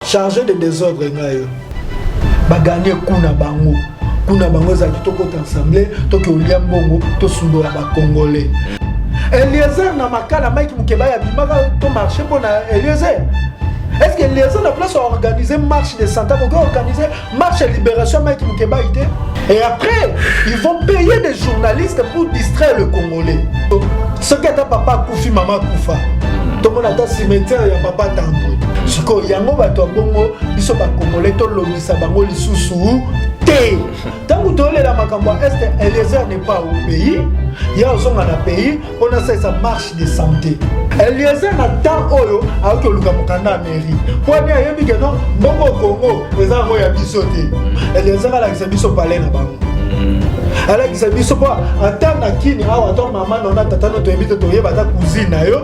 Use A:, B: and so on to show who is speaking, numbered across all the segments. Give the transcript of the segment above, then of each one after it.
A: charge de desordre nga yo baganie kuna bango kuna bango ezalaki tokota ensemble toke olia mbongo tosundola bacongolais eliezer na makala mike mokeba ya bimaka to marché mpo na eliezer est ce que eliezer na place ya organise marche de santa koki organise marche ya libération ya mike mukebayi te et après ils vont payer des journalistes pour distraire le congolais soki ata papa akufi mama akufa tomona ata cimetière ya papa tambwe sikoyo yango bato ya bongo biso bakongole tolobisa bango lisusu te ntango toyolela makambo ya este eliezer ne pas au pays ye ozonga na pays mpo nasalisa marche de santé eliezer na temps oyo ayoki oluka mokanda ya mairie mpo ani ayebi ke no mbongo kongo eza yango ya biso te eliezer alakisa biso pale na bango alakisa biso mpo ata na kini awa to mama nona tata no toyebi te toyeba ata cousine na yo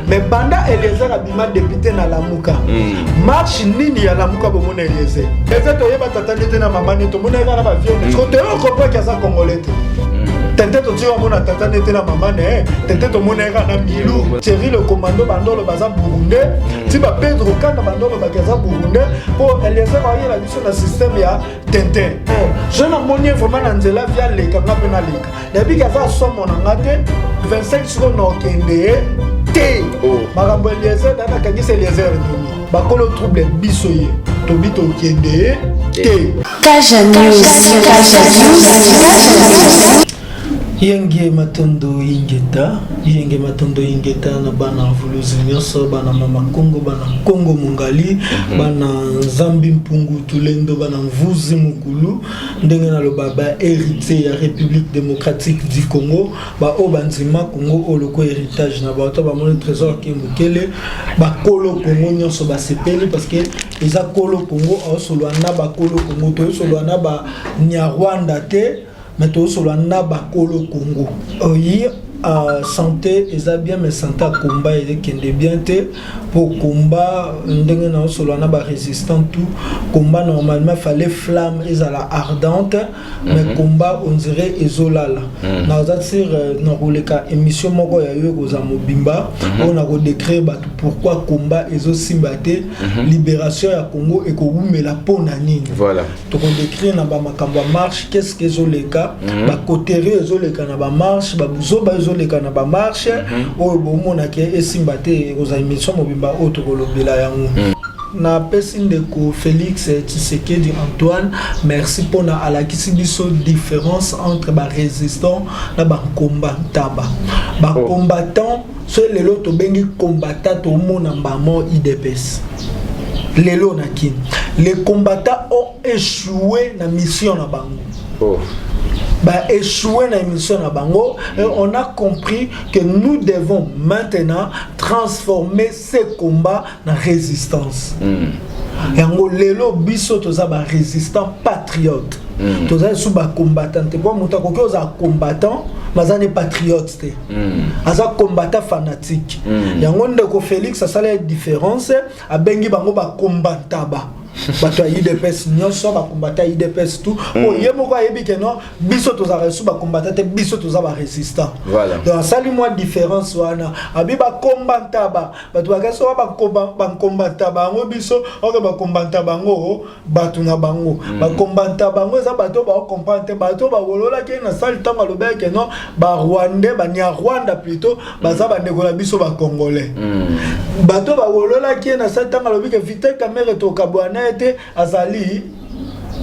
A: mais banda eliezer ma depute na lamuka hmm. marche nini ya lamuka bomona elieze eza toyeba tata nde te na mama nde tomona eza na bavione hmm. kote oyo okopreke aza congolais te hmm. tete totika omona tata nde te na mama ne tete tomona yaka na milu thierry le commando bandolo baza burundais ti ba pedro kanda bandolo baki aza burundais mpo eliezer ayela biso na systeme ya tintin je namoni ye vraiment na nzela via leka nga mpe naleka nayebiki aza somo na nga te 25 seconde na okende te oh. makambo
B: eliezer dana akangisa eliezer nini bakolo trouble biso ye tobi tokende te kaja news
A: kaja news yenge matondo ingeta yenge matondo ingeta na bana vuluzi nyonso bana mama kongo bana kongo mongali mhm. bana nzambi mpungu tulendo bana mvuzi mokulu ndenge naloba baheritier ya république démocratique du congo baoyo bandima congo oyo lokola héritage na bato bamoni trésor ke mokele bakolo congo nyonso basepeli parce que eza kolo congo aosolola na bakolo congo toyosolola na banyarwanda te mais toyosolola na bakolo congo oyi euh, santé eza bien mais santé akomba elekende bien te pour combat ndenge na solo na ba résistant tout combat normalement fallait flamme et à la ardente mais mm -hmm. combat on dirait ezolala mm -hmm. na za sur euh, na koleka émission moko ya yo koza mobimba mm -hmm. on a ko décrire ba pourquoi combat ezo simbate mm -hmm. libération ya Congo et ko wumela pona nini voilà toko décrire na ba makambo ya marche qu'est ce que ezoleka mm -hmm. ba coterie ezoleka na ba marche ba buzoba ezoleka na ba marche mm -hmm. oyo bomona ke esimba te ekozala émission mobimba oyo tokolobela yango mm -hmm. napesi ndeko félix tshisekedi antoine merci mpona alakisi biso différence entre barésistant na bakomba ntaba bakombatant oh. soki lelo tobengi combattant tomona mbamo idps lelo na kin les combattants ont échoué na mission na bango oh. ba échoué na émission na bango et on a compris que nous devons maintenant transformer ces combats na résistance mm. yango lelo biso toza ba résistant patriote mm. toza lisusu ba combattant te mpo moto akoki oza combattant maza ne patriote te mm. aza combattant fanatique mm. yango ndeko félix asala différence abengi bango bakombantaba bato ya udps nyonso bakombata ya udps tout mm. oyo ye moko ayebi ke non biso tozalaka lisusu bakombata te biso toza barésistant donc asali mwa différence wana abi bakombantaba bato bakasi oyo bakombanta bango biso oke bakombanta bango bato na bango mm. bakombanta bango eza bato oyo baokomprendre te bato oyo bawololaki na sali ntango alobaki ke non barwandais banyarwanda plutôt baza bandeko na biso bacongolais mm. bato oyo bawololaki ye na sali ntango alobi ke vital kamere tokabwana ye te azali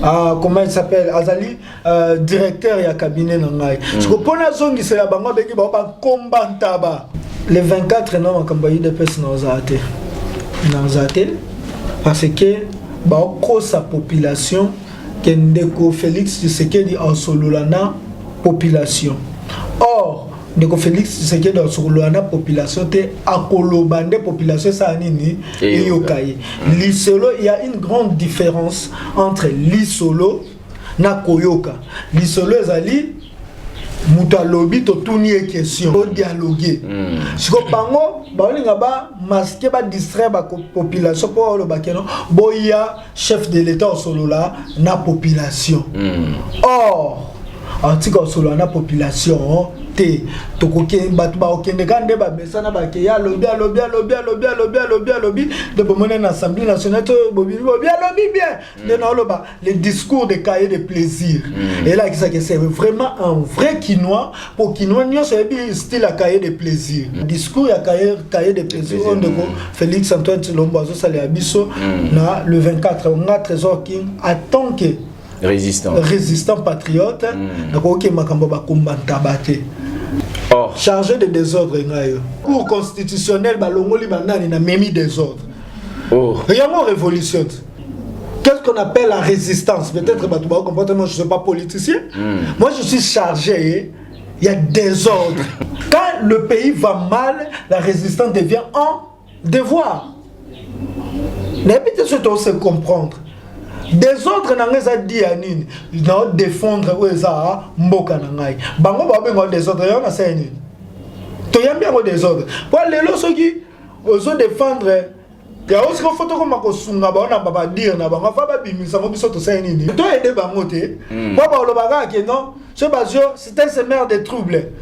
A: ah, comment il s'appelle azali Euh, directeur ya cabinet na ngai mm. siko mpo nazongisela bango abengi bango bankomba ntaba le 24 na makambo ya udps naozala te naozala te parce que baokosa population ke ndeko félix tshisekedi asolola na population or ndeko félix tshisekedi asolola na population te akoloba nde population esala nini eyoka ye lisolo ya une grande différence entre lisolo na koyoka lisolo ezali moto alobi totuni ye question odialoge mm. siko bango baolinga bamaske badistraire bapopulation mpo olobake no boya chef de l'état osolola na population mm. or atika osolola na population oh, te bato bakokende kaka nde bamesana bake ya alobi alobi alobi alobi alobi alobi alobi nde bomoni na assemblée nationale to bobibi bobi alobi bien Mm. nde naoloba le discours de cahier de plaisir mm. elakisaki c'est vraiment un vrai kinois mpo kinois nyonso ayebi style ya cahier de plaisir mm. discours ya cahier de plaisir oyo ndeko félix antoine tilombo azosalela biso na le 24 nga trésor king atant que résistant, résistant patriote nakoki makambo bakombantaba te oh. chargé de désordre ngayo cour constitutionnel balongoli banani na memi désordre oh. yango révolution te Qu'est-ce qu'on appelle la résistance Peut-être bah, tu vas comprendre, moi je ne suis pas politicien. Mm. Moi je suis chargé, il y a désordre. Quand le pays va mal, la résistance devient un devoir. N'habitez ce qu'on se comprendre. desordre na ngai eza di ya nini nao defondre oyo eza ah, mboka na ngai bango baobenga desordre yango nasala nini toyambi yango desordre mpo lelo soki ozo defendre yango siko fo tokoma kosunga bango na babadire na bango afa babimisa ngo biso tosali nini to aide bango te hmm. mpo baoloba kaka ke non so bazio c'est un semeur de trouble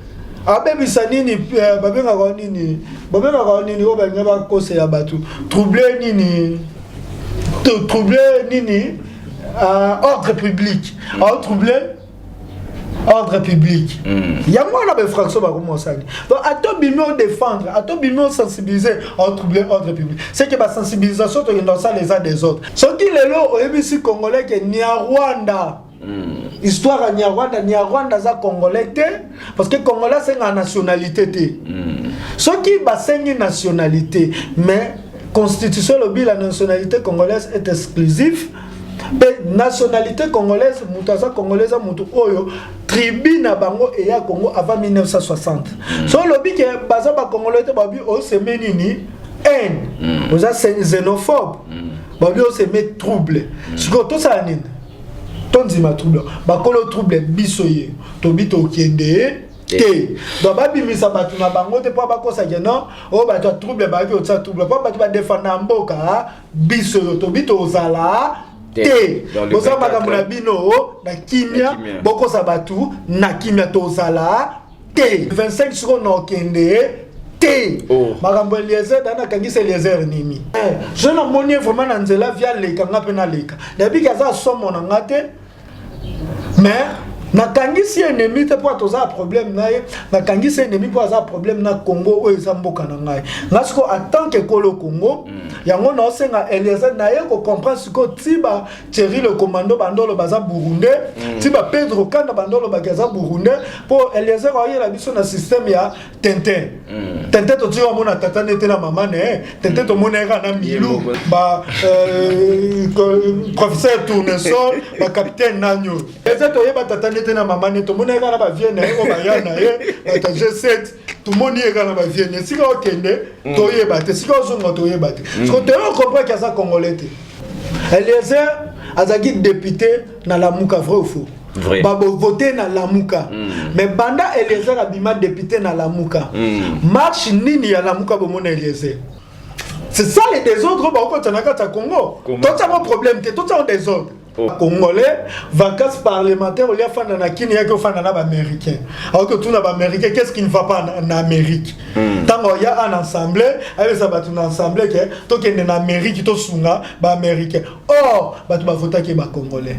A: abebisa nini eh, babengaka nini babengaka nini oyo balinga bakosela bato trouble nini trouble nini euh, ordre public aotrouble ordre public mm. yango wana bainfraction bakomi osali donc ata obimi odefendre ata obimi osensibilize otrouble ordre public c'est que basensibilisation tokenda kosala eza des autres soki lelo oyebisi congolais ke niarwanda mm. histoire ya niarwanda niarwanda aza congolais te parce que congolais asengaa nationalité te mm. soki basengi nationalité mais constitution elobi la nationalité congolaise est exclusif mpe nationalité congolaise moto aza congolaise ya moto oyo tribu na bango eya congo avant 1960 mm. so olobi ke baza bacongolais te babi oseme nini haine mm. oza xenophobe mm. babi oseme trouble sikoyo tosala nini tondima trouble bakolo trouble biso ye tobi tokende te donc babimisa bato na bango te mpo bakosake non oyo oh, bato ya trouble bayoki otisa trouble mpo bato badefanda mboka biso yo tobi tozala te boza makambo na bino na kimia bokosa bato na kimia tozala te 25 sikoyo na okende te oh. makambo eliezer da nakangisa eliezer nini eh, je namoni ye vraiment na nzela via leka nga mpe naleka nayebiki aza somo na nga te mais nakangisi ennemi te mpo toza problème na ye nakangisi ennemi mpo aza problème na congo oyo eza mboka na ngai nga sikoyo atant que kolo congo mm. yango naosenga eliezer naye kocomprendre sikoyo ti ba thierry le commando bandolo baza burundais mm. ti ba pedro kanda bandolo baki aza burundais mpo eliezer aoyela biso na système ya Tintin. Mm. Tintin to tiwa mona tata nete na mama ne. Eh. Tintin mm. to mona era na Milou. Ba euh, professeur Tournesol, ba capitaine nanyo. Eza to yeba tata nete na mama ne to mona era na ba vienne eh, o ba yana ye. Eh. Ba G7 tomoni ye kaka na bavieni esika okende mm. toyeba te esika ozonga toyeba te mm. soko toyo comprendre ke aza congolais te eliezer azalaki député na lamuka vrai ou faux vrai babovote na lamuka mm. mais banda eliezer abima député na lamuka mm. marche nini ya lamuka bomona eliezer c'est ça les désordres bakokota na kati ya congo totiango problème te totiango désordre oh. congolais vacances parlementaire olia fanda na kini yaki ofanda na baaméricain aoki otuna baaméricain qu'est ce qui ne va pas na, na amérique ntango hmm. oya an assemblée ayebisa bato na assemblée ke tokende na amérique tosunga baaméricain or bato bavotaki ye bacongolais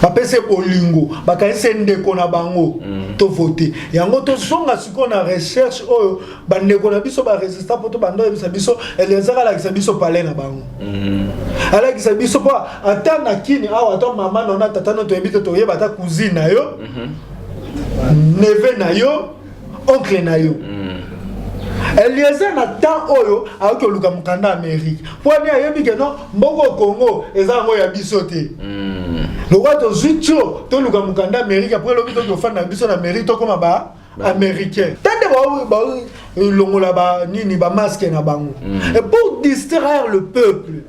A: bapesa bolingo bakanisa ndeko na bango mm. tovote yango tozonga sikoyo na recherche oyo bandeko na biso baresistant mpo tobanda oyebisa biso eliazar alakisa biso pale na bango mm. alakisa biso mpo ata na kini awa ata mama nona tata no toyebi te toyeba ata cousine na yo mm-hmm. neve na yo oncle na yo mm. eliezer na temps oyo ayoki oluka mokanda ya amerike mpo ani ayebi ke no mboko congo eza yango ya biso te mm. lokola tozwi tio toluka mokanda ya amerike apres lobi toki ofanda na biso na amerike tokoma ba américain tande balongola ba, ba, nini bamaske na bango mm. et pour distraire le peuple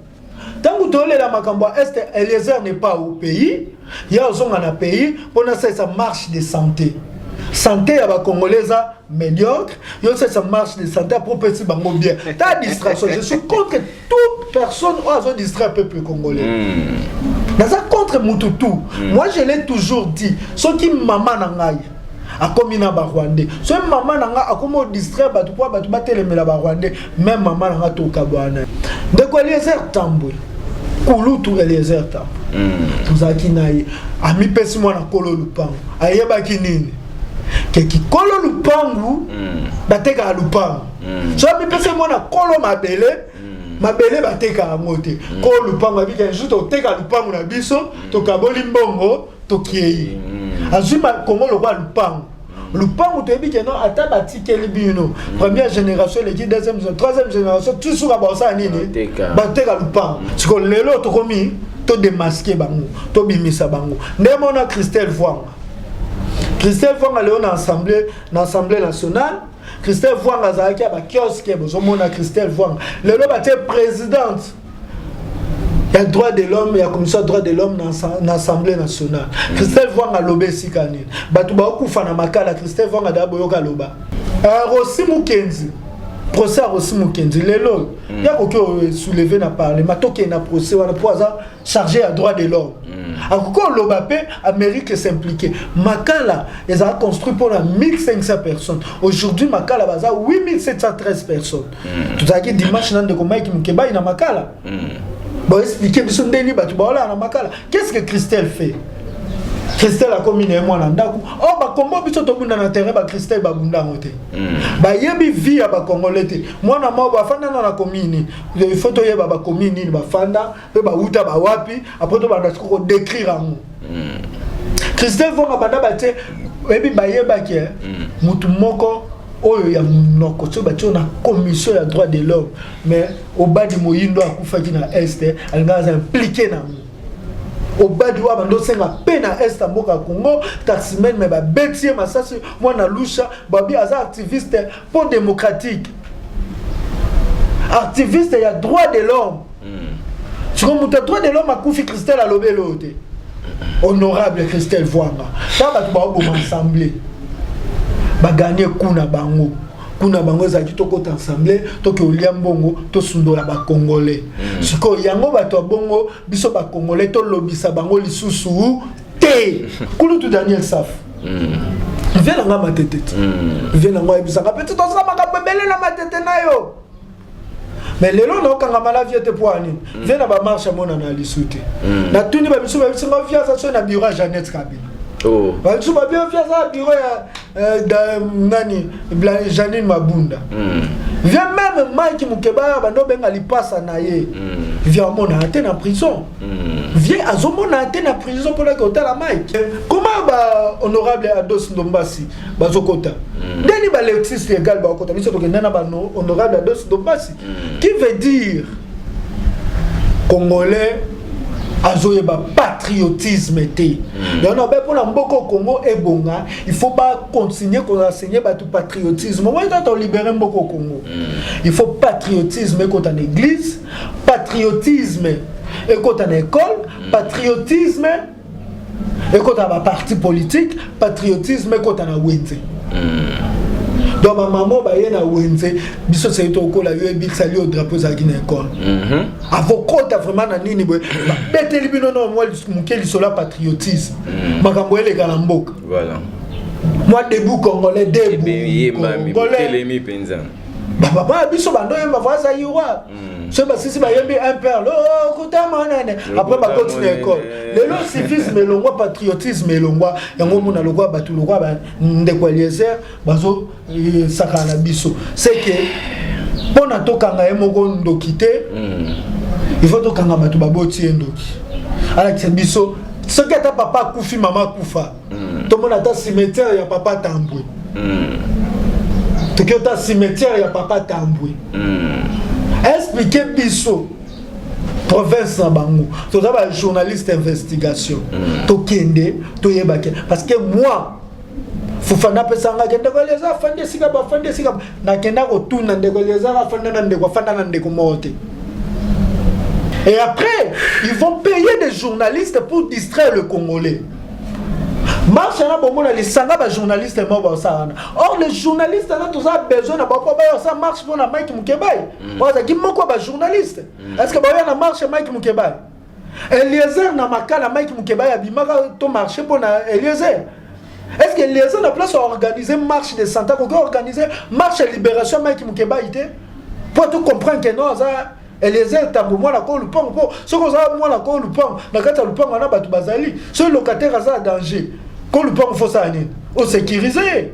A: ntango toyolela makambo ya este eliezer ne pas au pays ye azonga na pays mpo nasalisa marche de santé santé ya bacongolais eza médiocre yo osalisa marche de santé apres opesi bango bien ta distraction je suis contre toute personne oyo azo distraire peuple congolais mm. naza contre mutu tout mm. moi je l'ai toujours dit soki mama na ngai akomi na barwandais soki mama na nga akomi odistraire bato mpo bato batelemela barwandais meme mama na nga tokabwana na ye ndeko eliezer tambwe kulutu eliezer tambwe hmm. tozalaki na ye amipesi mwana kolo lupango ayebaki nini ke kikolo lupangu hmm. batekaka lupangu hmm. so amipesi mwana kolo mabele mabele bateka yango te kolo lupangu abika jour toteka lupangu na biso tokaboli mbongo tokei azwi kongo lokola lupango lupangu toyebi ke non ata batikeli bino mm. première génération eleki deuxième troisième génération tu suka baosala nini bateka lupangu mm. siko lelo tokomi todemaske bango tobimisa bango ndenge mona christelle vwanga christelle vwanga lelo na assemblée na assemblée nationale christelle vwanga azalaki ya bakioske bozomona christelle vwanga lelo batie présidente ya droit de l'homme ya commission ya droit de l'homme na assemblée nationale mm. christel vwanga aloba esika nini bato baokufa na makala christel vwanga daa boyoka aloba euh, rosi mokenzi procès ya rosi mokenzi lelo oyo mm. ya koki osouleve na parlement tokende na procès wana mpo aza chargé ya droit de l'homme mm. akoki oloba mpe amérique s'impliquer makala ezala construit mpona 1500 personnes aujourd'hui makala baza 8713 personnes mm. tozalaki dimanche na ndeko mike mukebayi na makala mm. baexplike biso ndeni bato baolaa na makala qu'est ce que christelle fait christelle akomi na ye mwana ndako o oh, bakombo biso tobunda na terrain bachristelle babunda yango te hmm. bayebi vie ya bacongolais te mwana moko afandana na komini il faut toyeba bakomini nini bafanda pe ba wuta ba wapi après to banda ko décrire yango hmm. Christelle Vonga banda ba te ebi ba yeba ke hmm. mutu moko oyo ya munoko soki batio na commission ya droit de l'homme mais obadi moyindo akufaki na est alingaka aza implike na yango obadi wa bando senga pe na est ya mboka ya congo taximene me babeti ye masasi mwana lusha babi aza activiste po democratique activiste ya droit de l'homme hmm. siko moto ya droit de l'homme akufi christelle alobi eloo te honorable christelle voanga ta bato baoboma ensemble baganie kuna bango kuna bango ezalaki tokota ensemble toke olia mbongo tosundola bacongolais hmm. sikoyo yango bato ya bongo biso bacongolais tolobisa bango lisusu te kulutu daniel saf vie na nga matete ti vie na nga oyebisaka mpe ti tozala makambo ebele na matete na yo mais lelo naokangama na vie te mpo ya nini vie na bamarshe amonana ya lisu te natuni bamisu bayebisi nga vie aza soki na biro ya janete kabila Oh. bamisu babi vie aza na biro ya eh, da- nani Bla- janine mabunda Mm. vie meme mike mokebaya bando obenga lipasa na ye Mm. vie amonana te na prison Hmm. vie azomona te na prison mpo nake otala mike koma ba honorable ados ndombasi bazokota hmm. ndeni ba lexis legal bakokota biso tokenda na ba honorable ados ndombasi hmm. qui veut dire congolais azoyeba patriotisme te yango nabe mpo na mboka congo ebonga il faut bacontinue koenseigner bato patriotisme oyo tata olibere mboka congo il faut patriotisme ekota na église patriotisme ekota na école mm. patriotisme ekota na baparti politique patriotisme ekota na wenze mm. donc bamama baye na wenze biso seki tokola yo ebikisali yo drapeau ezalaki na école mm-hmm. avokota vraiment na nini boye babeteli bino na mwa moke lisolo ya patriotisme mm. makambo eleka na mboka mwa debu congolais debu congolais ba papa biso bando yemba vaza yiwa mm. so basisi bayembi un père lo oh, kutama nene après bakoti na école lelo civisme elongwa patriotisme elongwa yango omona lokwa bato lokwa ba ndeko eliezer bazo eh, sakana na biso c'est que mpo na tokanga ye moko ndoki te mm. il faut tokanga bato baboti ye ndoki alakisa biso soki ata papa akufi mama akufa mm. tomona ata cimetière ya papa tambwe mm. toki ata cimetière ya papa tambwe mm. explike biso province na bango toza ba journaliste investigation mm. tokende toyebake parce que moi fufana apesangaki ndeko elieza afandi esika bafandi esika nakenda kotuna ndeko elieza afanda na ndeko afanda na ndeko moko te Et après, ils vont payer des journalistes pour distraire le Congolais. marche na bongo na lisanga ba journaliste moko baosala wana or le journaliste na toza besoin na bango bayo sa marche mpo na mike mukebai mm. bazalaki moko ya bajournaliste mm. est ce que baoya na marche mike mukebai eliezer na makala mike mukebai abimaka to marche mpo na eliezer est ce que eliezer na place aorganize marche de santa koki organise marche ya libération mike mukebai te mpo to comprendre ke non aza Eliezer Tango mwana ko lupango po soki oza mwana ko lupango na kati ya lupango na bato bazali soki locataire aza na danger ko lupango fo sala nini o sécuriser ye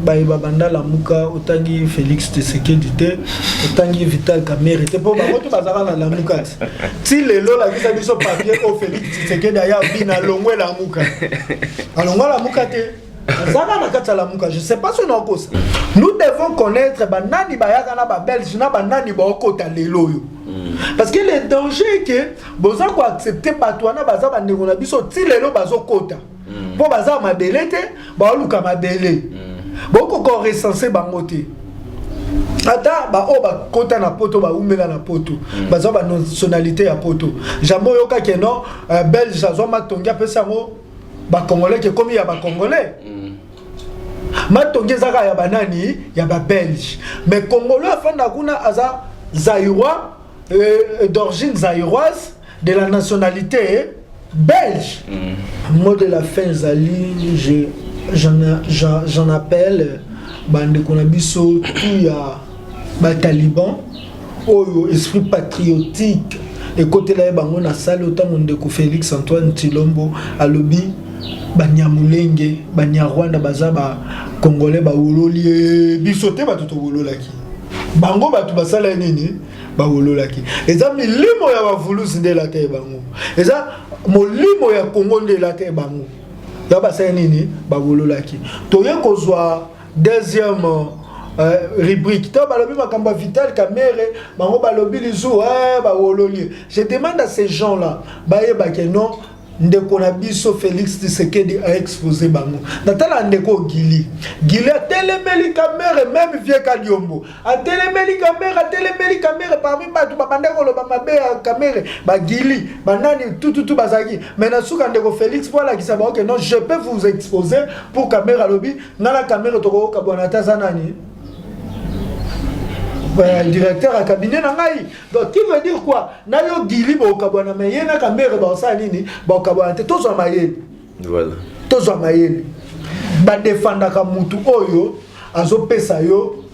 A: baye babanda lamuka otangi Felix Tshisekedi te otangi Vital Kamerhe te po bango to bazaka na lamuka te ti lelo lakisa biso papier o Felix Tshisekedi aya bina longwe lamuka alongwa lamuka te azalaka na kati ya lamuka je sais pas soki naokosa nous devons connaître banani bayaka na babelge na banani baokota lelo oyo hmm. parce que le danger ke boza koaccepte bato wana baza bandeko na biso ti lelo bazokota mpo hmm. baza mabele te baoluka mabele hmm. bokoko recense bango te ata baoyo bakota na poto baumela na poto mm. bazwa banationalité ya poto jambo oyokaki no uh, belge azwa matongi apesi yango ba congolais ke komi ya ba congolais mm. matongi ezaka ya banani ya ba belge mais congolais afanda kuna aza zaïrois euh, d'origine zaïroise de la nationalité belge mm. mot de la fin ezali je j'en appelle bandeko na biso tout ya ba talibans oyo esprit patriotique ekotela ye bango na sale otango ndeko Felix Antoine Tshilombo alobi banyamulenge banyarwanda baza ba congolais bawololi eh, biso te bato towololaki bango bato basala ye nini bawololaki eza milimo ya bavulusi nde elata ye bango eza molimo ya kongo nde elata ye bango ya basala nini bawololaki toye kozwa Deuxième euh, rubrique. Toi, balobi makamba Vital Kamere, bango balobi lizu, eh, ba wololi. Je demande à ces gens-là, baye ba que non, ndeko na biso Félix Tshisekedi a exposé bango. Natala ndeko Gili. Gili atelemeli Kamere, même vieux Kadiombo. Atelemeli Kamere, atelemeli Kamere parmi batu babanda koloba mabe ya Kamere, ba Gili, banani tout tout tout bazaki. Mais na suka ndeko Félix pour la kisabaoke non, je peux vous exposer pour Kamere alobi nga na kamere tokoyoka bwana ata aza nani euh, directeur ya cabinet na ngai donc qui veut dire quoi na yo gili bokabwana me ye na kamere baosala nini bakabwana te tozwa mayele voilà. tozwa mayele badefandaka mutu oyo azopesa yo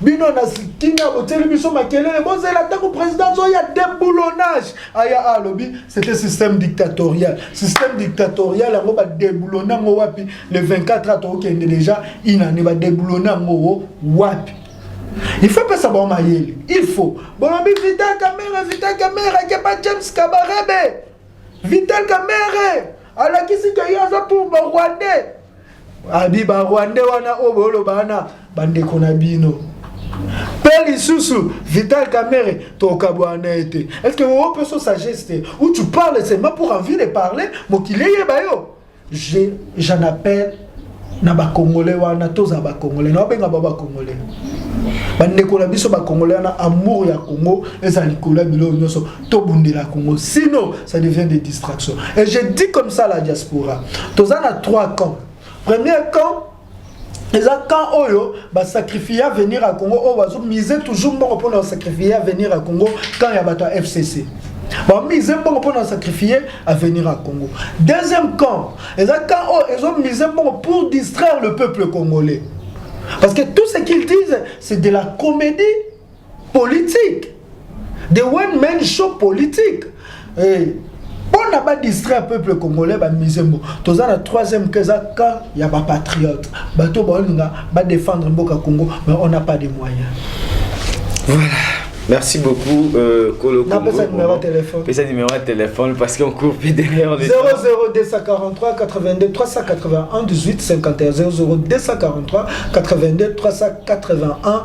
A: bino na kimia botieli biso makelele bozela ntango président azoya déboulonnage aya ah, alobi c'était système dictatorial système dictatorial yango badeboulonne yango wapi le 24 a tokokende déjà inane badeboulonne yango wapi il faut pesa bango mayele il faut bolobi vita kamera vita kamera kepa james kabarebe Vital Kamerhe alakisi ke ye aza pour ba Rwandais. Abi ba Rwandais wana oyo boloba wana bandeko na bino. Pe lisusu Vital Kamerhe tokabwana na ye te. Est-ce que oyo mpe so sagesse te? Ou tu parles seulement pour envie de parler mokili eyeba yo. je j'en appelle na bakongole wana tozala bakongole na obenga ba bakongole bandeko na biso bakongole wana amour ya congo ezala likolo ya biloko nyonso tobundela congo sinon ça devient des distractions et je dis comme ça la diaspora toza na trois camps premier camp eza camp oyo basacrifie avenir ya congo oyo bazo mise toujours mbongo mpona basacrifie avenir ya congo camp ya bato ya fcc bamise mbongo mpona basacrifie avenir ya congo deuxième camp eza camp oyo ezo mise mbongo pour distraire le peuple congolais parce que tout ce qu'ils disent c'est de la comédie politique the one man show politique eh, mpona badistraire peuple congolais bamise mbo toza na troisième ke eza camp ya bapatriote bato baolinga badefendre mboka congo mais on n'a pas de moyen
B: voilà Merci beaucoup, euh, Kolo Congo. Pesa numéro de
A: téléphone. Pesa numéro de téléphone
B: parce qu'on court plus derrière les 00243 82 381 18 51 00243 82
A: 381